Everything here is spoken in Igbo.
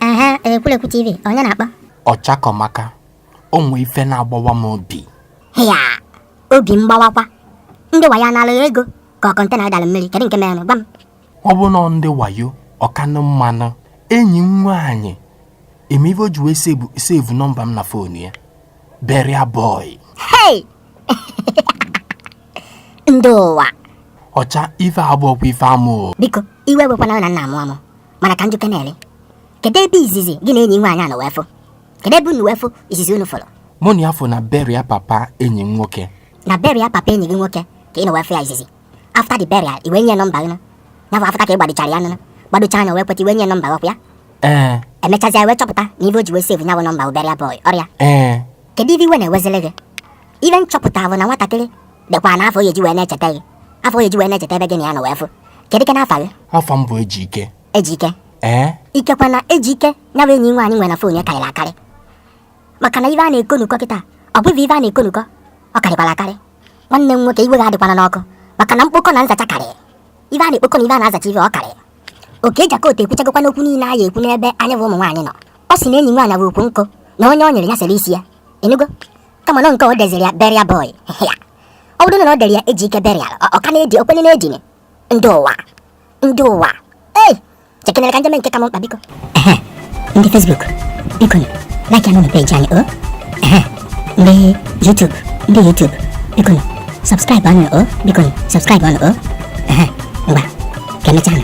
aha ekwulekwu tv onye na-akpọ ọchakọmaka o nwee ife na-agbawa m obi ya obi mgbawakwa ndị wayo anala gị ego ka ọ kọntena ị dara mmiri kedu nke mere gwa m ọ bụrụ na ọ ndị wayo ọ kanụ mma nụ enyi m nwaanyị ị ma ife o ji wee sevu nọmba m na foonu ya burial boy hey ndị ụwa ọcha ife a abụrọkwa ife amụ biko iwe ewekwana na m na-amụ amụ mana ka m jụkenele kedu ebe izizi gị na enyi nwaanyị a nọ wee fụ kedu ebe unu wee fụ izizi unu fụrụ mụ na ya fụ na burial papa enyi m nwoke na burial papa enyi gị nwoke ka ị nọ wee fụ ya izizi after the burial ị wee nye nọmba gị ya bụ after ka ị gbadochara ya nụnụ gbadocha anya wee kweta ị wee nye nọmba gị ya ee e mechazia ị wee chọpụta na ife o ji wee sevu ya bụ nọmba burial boy ọ rọ ya ee kedu ife iwe na-ewezili gị ife m chọpụta bụ na nwatakịrị dekwara afa ọ ya-eji wee na-echeta gị afa ọ ya-eji wee na-echeta ebe gị na ya nọ wee fụ kedukene afa gị afa m bụ Ejike Ejike ee ikekwa na Ejike ya bụ enyi nwaanyị nwere na fon ya karịrị akarị maka na ife a na-ekonukọ kịta ọ bụghị ife a na-ekonukọ ọ karịkwara akarị nwanne m nwoke iwe gị adịkwana n'ọkụ maka na mkpokọ na nzacha karịrị ife a na-ekpokọ na ife a na-azacha ife ọ karịrị Okey Jakota ekwuchagokwanụ okwu niile a ya-ekwu n'ebe anyị bụ ụmụ nwaanyị nọ ọ sị na enyi nwaanyị bụ ukwu nkụ na onye ọ nyịrị ya sere isi ya ị nụgo kama na nke o deziri ya burial boy ya ọ bụrụ na ọ dere ya Ejike burial ọ ka na-edi okwenye na-edinye ndị ụwa ndị ụwa chekenere ka m je mee nke ka m mkpa biko ndị Facebook biko like anụ page anyị o ndị YouTube ndị YouTube biko subscribe anụ o biko subscribe anụ o ngwa ka e mechaa nụ